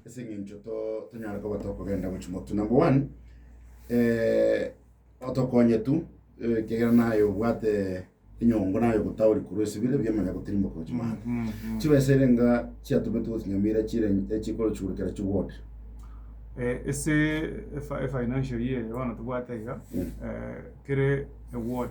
ase eng'encho to- tonyare koba tokogenda gochia motu number one eh, otokonye tu eh, ekiagera naye obwate enyongo naye ogotauri korwa esibire ebiya omanya gotirimboka gochia maaro chibesa ere nga chiatomete gose chinyamira chire echikoro chigurukera chiwote Eh, ase efa- efinancial year eye bono tobwate iga Mm. eh, kere eward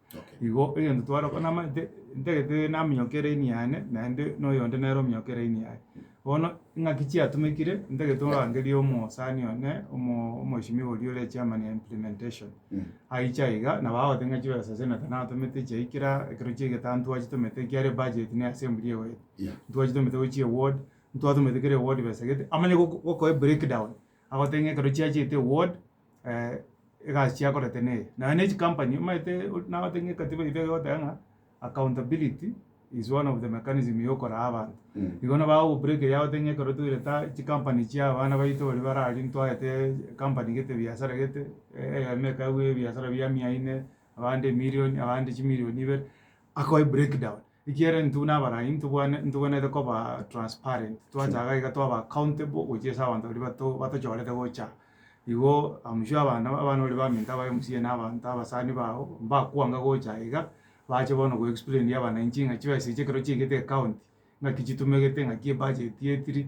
Igo egento tware gokora namaete ntagete naminyoke eraini yane naende na oyonde nere ominyoke eraini yaye. Bono ing'aki chiatumekire ntagete orangerie omosani one omo- omweshimiwa oria ore chairman ya implementation. Aiche aiga aiga nabo agote ng'a chibesa ase nete natomete echiayi kera ekero chia egetano ntwachitomete ekiare ebudget na eassembly egoeta. Ntwachitomete gose chieward, ntwatomete kera eward besa egete, amanye gokoa ebreakdown, agote ng'a ekero chiachiete eward. eh, egasi chiakorete neye naye ne chikampani omanyete nabate ng'a ekatiba yaito egoteba ng'a accountability is one of the mechanism yokoraa abanto Mm. igo nabo agogobureka eria agote ng'a ekero toire ta chikampani chia abana baito baria bare aria ntwaete kampani gete ebiasara gete eh, eyemo ekagwa ebiasara bia mia ine abande emilion abande chimilion ibere akoe breakdown. Ekiagera intwe buna Abalayi ntobwane- ntobwenerete koba transparent, twacha iga iga twaba accountable gochia ase abanto baria bato- batochorete gocha igo, I'm sure abana abana baria baminto abaye omosie na abanto abasani bao, mbakwanga gocha aye iga, bache bono go explainia abananchi ng'a chibesa echi ekero chiaigete ecounty, ng'aki chitumegete, ng'aki ebudget etiri,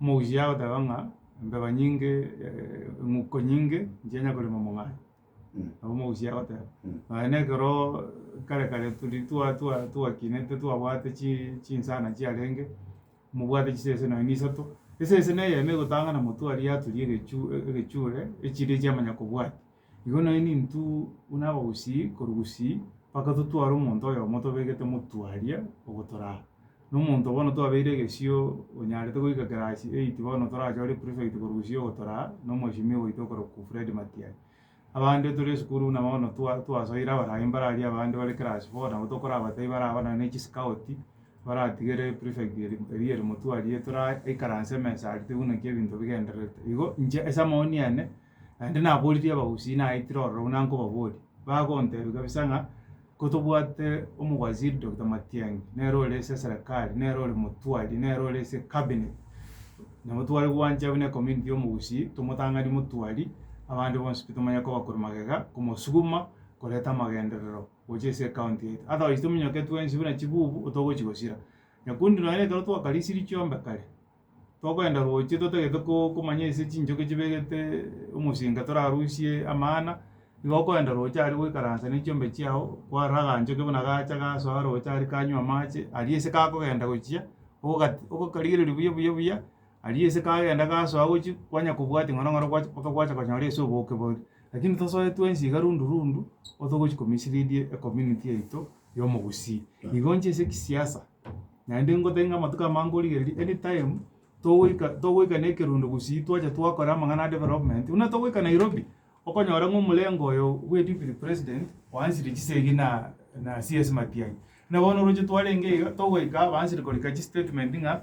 Omogusii agoteba ng'a embeba nyinge, eng'uko nyinge inche nya korema omong'aini. Nabo omogusii agoteba. Nonya na ekero kare kare turi twa- twa- twakinete twabwate chi- chinsana chiarenge, mobwate chisese nonya na isato, esese na eyemo egotang'ana motwe aria yaturia egechu- egechure, echiria echiamanya kobwatia. Igo nainwe nintw buna abagusii korwa gusii, mpaka totware omonto oyomo tobegete motwe aria ogotoraa. Na omonto bono twabeire egesio onyarete goika class eight bono torachore prefect korwa gusii ogotoraa na omweshimiwa oito okorokwa Fred Matiang'i. Abande tore esukuru buna bono twa twasoire abarai mbare aria abande bare class four nabo tokorabatai baraba nonya na echi scout baratigere prefect eri eria eri motwe aria toraikaranse emesa aria toigwe naki ebinto bigendererete. Igo inche ase amaoni ane. Naende naboorire abagusii naetire ororo buna nkobaboria, bagontebia kabisa ng'a kotobwate omowaziri Doctor Matiang'i, nere ore ase eserekari, nere ore motwari, nere ore ase ecabinet, nabo tware gwancha buna ecommunity ya omogusii, tomotang'anie motwari, abande bonsi pi tomanye kobakwa magega, komosuguma koreta amagenderero gocha ase ecounty yaito. Otherwise tominyoke twensi buna chibubu, otogochi gosira. Nyakundi nonye ekero twakarisirie chiombe kare, Togoenda roche totagete ko- komanya ase chinchoki chibegete omosinga torarusie amana, igo okoenda roche aria goikaransa ne chiombe chiao, kwarora aganchoki buna gacha gasoa roche aria kanywa amache, aria ase kagokenda gochia, ogogat ogokarigereria buya buya buya, aria ase kagenda gasoa gochia, kwanya kobwatia ng'a nong'ora gwacha mpaka gwacha konyora ase oboke boria. Lakini tosoe twensi iga rundu rundu, otogochi ko mislead ecommunity yaito ya omogusii. Igo nche ase ekesiasa. Naende ngote ng'a amatuko amange origereria anytime togoika togoika na ekerodo gosii twacha twakora amang'ana a development buna togoika Nairobi, okonyora ng'a omorengo oyo bwe deputy president oanchire chisegi na na CS Matiang'i. Buna bono oroche twarenge iga togoika abansire korika chistatement ng'a.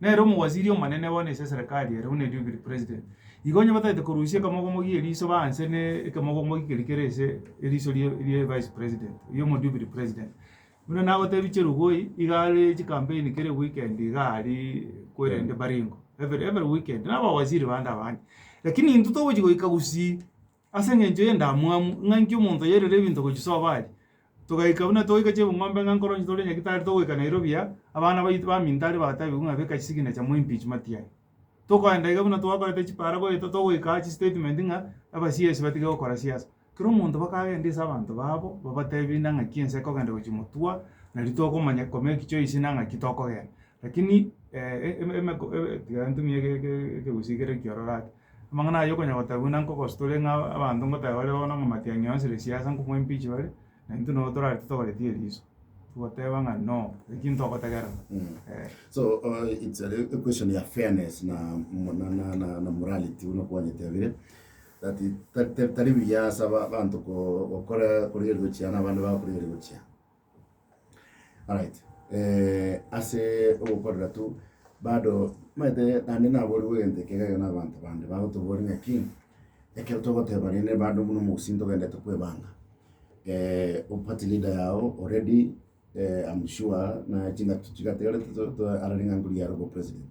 Nere omowasiri omonene bono ase eserekari ere, buna erio biri president, igo onye batagete korusia ekemogomogi eriso ba nse ne ekemogomogi keria kere ase eriso rie rie vice president, ria omodubiri president. Buna nagotebie Chelugui, iga are chikampeini kera ewikendi igaa aria kwerende Baringo, every every weekend, na abawasiri bande abande. Lakini intwe togochi goika gusii. Ase engencho y'endamwamu ng'a inki omonto oyoirera ebinto gochia sobo are, togaika buna togoika chebung'ombe ng'a nkoro inche tore nyagetari togoika Nairobi aa, abana baito baminto aria batabigwe ng'a beka chisignature mo impeachmati yaye. Tokoenda iga buna twakorete chipara goeta togoika aa chistatement ng'a abasiesi batige gokora siasa. Kera omonto bakagenda ase abanto babo babatebie nang'aki ense ekogenda gochia motwa, nari tokomanya komake choice na ng'aki tokogenda. Lakini emeku tiga ntumie ege ege ekegusii kere ekiororo ake. Amang'ana ayio konya gotagwa na nkogoso tore ng'a abanto ngotae bare bono ng'a matiang'i onsi re siasa nkomwa impeach bare, na intwe nabo torare totogoretie eriso, togoteba ng'a no, eki ntogotagera eh. So uh, it's a, a question ya fairness na, mo- na, na, na, na morality buna kwanyetebire that it- ta- ta- tari buya ase aba- abanto ko- gokora korigereria gochia na abande bagokorigereria gochia Alright, ase ogokorera tu, bado omanyete naende naboorigwe egento ekero iga na abanto bande bagotoboria ng'aki, ekero togoteba rende bado buna omogusii ntogende kwebanga, o party leader yago already, I'm sure, naye chingaki chigatigara tito- to- ararenge anguru yare obopresident.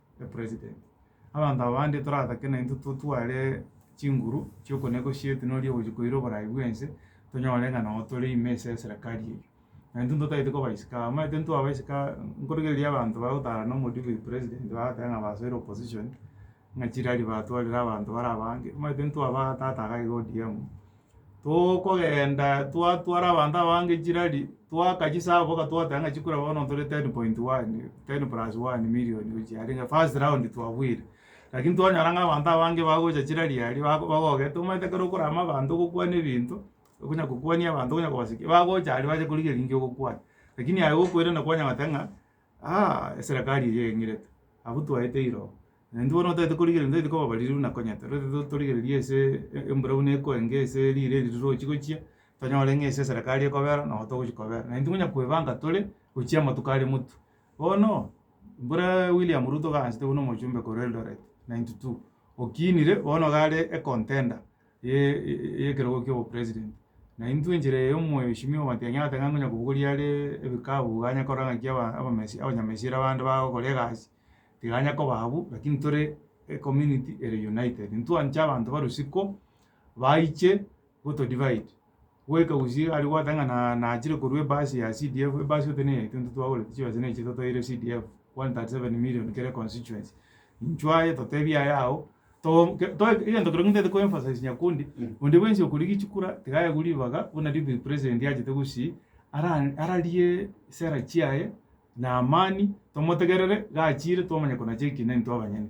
the president. Abanto aba bande toratake naintwe totware chinguru chiokonegwa chiaito nori ogochia koira oborai bwense, tonyore ng'a nabo tore ime ase eserekari eyio. Naintwe ntotagete koba isiko aba, omanyete intwe twaba isiko aba, nkorigereria abanto bagotara nomodebe oyo president bagoteeba ng'a basoire opposition, ng'a chirari batwarire abanto bare abange, omanyete intwe abaa tata iga iga ODM. Togokenda twatwara abanto abange chirari, twaka chisaabo boka twateba ng'a chikura bono ntore ten point one, ten plus one million gochiarenge first round twabwire. Lakini twanyora ng'a abanto abange bagocha chirari aria bago bagogete omanyete ekero okorama abanto ogokwana ebinto, okonya kokwania abanto okonya kobaseki, bagocha aria bache korigereria nki ogokwana. Lakini aye gokoirana kwanyagoteba ng'a. Aa, eserekari eye eng'irete. Abwo twaete iroo. Naintwe bono otaete korigereria ntaete kobabaririu na konyete. Rore to- torigereria ase e- embura buna ekoe enke ase riire eri rirochi gochia, tonyore ng'a ase eserekari ekobera nabo togochi kobera. Naintwe tonya koebanga tore gochia amatuko are motwe. Bono, mbore William Ruto gaanchete buna omochumbe korwa Eldoret, ninety two, okinire bono iga are e contender. y'ekerogo ki'obopresident. Na intwe enchera eye omoyo oishemie ogobatebia ng'a oteba ngonya kobogoria are ebikabu iga anya korora ng'aki aba- abamesi abanyamesire abande bagokora egasi, tiga anya koba abwo, lakini tore ecommunity ere united. Ntwanche abanto bare isiko baiche gotodivide. goika gusii aria gwateba ng'a na nachire korwa ebasi ya CDF ebasi ote neye intwe ntitwagorete chibesa na echi totoeire CDF 137 million kere constituency intwe aye totebi aye ago to ke to egento keria ntagete ko emphasize Nyakundi onde bwensi okorigia chikura tiga aye aigwe ribaga buna deputy president achete gusii ara ararie sera chiaye na amani tomotegerere gachire twamanya konacha ekina intwe abanyene.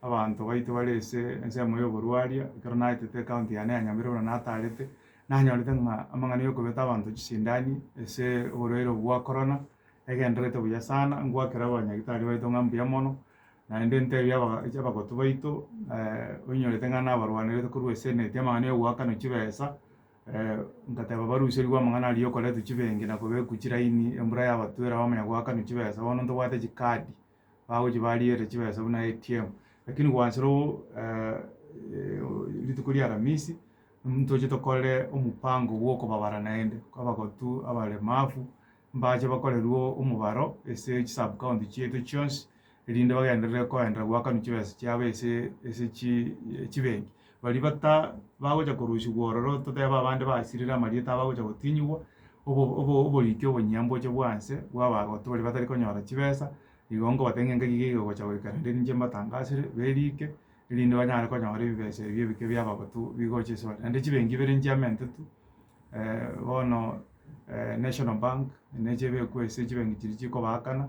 Abanto baito bare ase ensemo y'oborwaria, ekero naetete ecounty yane ya Nyamira buna nataarete, nanyorete ng'a amang'ana y'okobeta abanto chisindani ase oborwaire obo bwa Corona egendererete buya sana, ngwakera abanyagitari baito ng'a mbuya mono, naende ntebia aba abagotu baito oinyorete ng'a nabarwanerete korwa eseneti amang'ana y'ogoakanwa chibesa, ngateba baruserigwe amang'ana aria y'okoretwa chibenki na kobekwa chilaini, embura yabatwera abamanya goakanwa chibesa, bono ntobwate chikadi. bagochia barigereria chibesa buna ATM, lakini gwanchire o- eh rituko ria aramisi, ntoche tokore omopango bwa okobabara naende, abagotu, abaremafu, mbache bakorerwe omobaro ase chi sub county chiaito chionsi, erinde bagenderere koenderera goakanwa chibesa chiabo ase ase chi chibenki. Baria bata bagocha korusigwa ororo totebe abande basirire amarieta abagocha gotinyigwa, obo obo oboriki obonyia mboche bwanse bw'abagotu baria batari konyora chibesa, igo nkobate ng'a enka iga igogocha goika naende ninche mbatangasire, berike, erinde banyare konyora ebibesa ebi ebike bi'abagotu bigocha ase bare. Naende chibengi ibere nchiamentetwe bono National Bank, neche ebekwa ase chibengi chiria chikobaakana.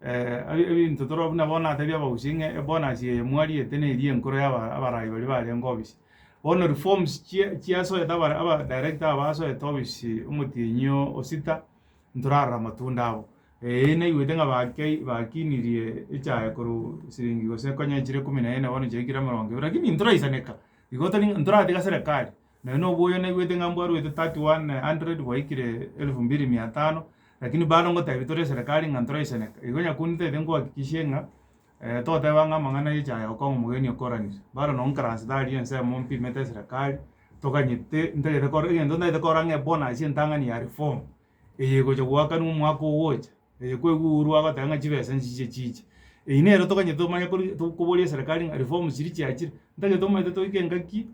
ebinto toro buna bono natebie abaguchia ng'a ebonus eye mwariete neyio enkoro ya aba- abarai baria barenge obisa. Bono reforms chia- chiasoete abare aba director aba basoete obisi omotienyi oo o sita, ntorarora amatunda abo. Eeh naigwete ng'a bakei bakinirie echae korwa siringi gose konya chire ikomi na ene bono chiaikire emerongo ebere, lakini ntoraisaneka, igo tori ntoratebe serekari. Naye noboyo naigwete ng'a mbwarwete 3100 gwaikire 2500 lakini bado ngotebi tore eserekari ng'a ntoraiseneka igo nyakunde ntaete nkohakikishie ng'a toteba ng'a amang'ana aye chaya okong'a omogeni okoranire bado nonye nkarase tari ensemo mpimete eserekari toganyete ntagete kore egento ntagete kora ng'a ebonus entang'ani ya reform eye egocha goakanwa omwaka ogocha eye kweguurwa agoteba ng'a chibesa nchiche chiche eyio nere toganyete tomanye kori tokoboria eserekari ng'a reform chiria chiachire ntagete omanyete toike engaki.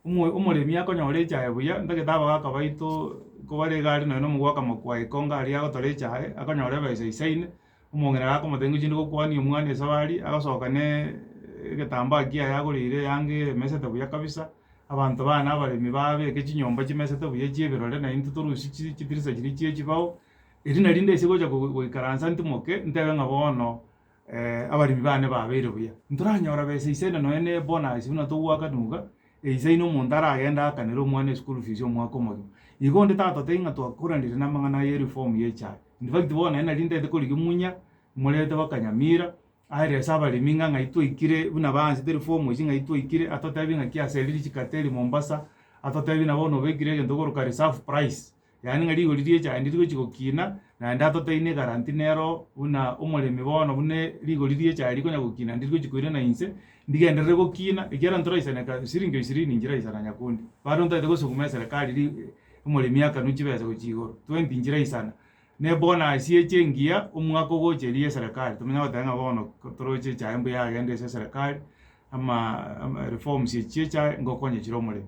Omoremi akonyora echaye buya, ntagete aba gaka baito kobare iga are nonye na omogwaka mokwaye ekonga aria agotora echaye, akonyora ebesa eisaine, omong'ina gakomotebia ngochi ndi gokwania omwana esabari, agasoka na egetambaa kiaye agoreire eyanga emesete buya kabisa, abanto babo na abaremi babeke chinyomba chimesete buya chia ebirore na intwe torusie chi chidirisa chiria chia echibao, erio nari nde ase gocha goikaransa ntimoke, ntebe ng'a bono. abaremi bane babeire buya. Ntoranyora besa ise na nonya ne bonus buna togoaka nuga eisa ina omonto aragende aakanere omwana eschool fees omwaka omogima. Igo onde tatotebia ng'a twakoranire namang'ana aya ereform ya echae. In fact bono nonye nari ntaete korigia munya morete baka nyamira aerese abaremi ng'a ng'ai twaikire buna baansete reform echi ng'ai twaikire atotebie ng'aki aseriri chikateli Mombasa, atotebie nabo bono obekire egento ogokora reserve price. Yaani ng'a rigori ri'echaindi rigochia gokina, naende atoteine egaranti nero buna omoremi bono buna rigori ri'echae rikonya gokina naende rigochia koirana inse, ndigenderere gokina ekiagera ntoraisana eka siringi ishirini nchiraisana nyakundi, bado ntaete gosukuma eserekari ri omoremi akanwe chibesa gochia igoro, twenty nchiraisana, na ebonasi eche engiya omwaka ogocha eria ya eserekari, tomanya goteba ng'a bono toroche echae mbuya yagenda ase eserekari, ama ama reforms echi chi'echae ngokonya chire omoremi.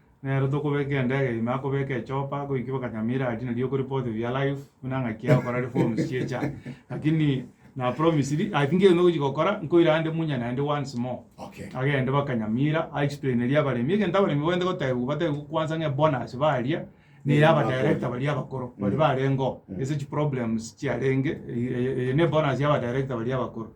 Nere tokobeka endege ime akobeka echopa goiki bakanya miradi nario okori both of your life buna ng'aki ya gokora reforms chiecha lakini na promise ri I think egochi gokora nkoira ande munya naende once more Okay. agende bakanyamira a explain eri abaremi egento abaremi bagende gotebiwa batebiwe kwanza ng'a ebonus baria ne ya aba director baria abakoro bari barengeo ase chi problems chiarenge eye eye ne bonus ya aba director baria abakoro.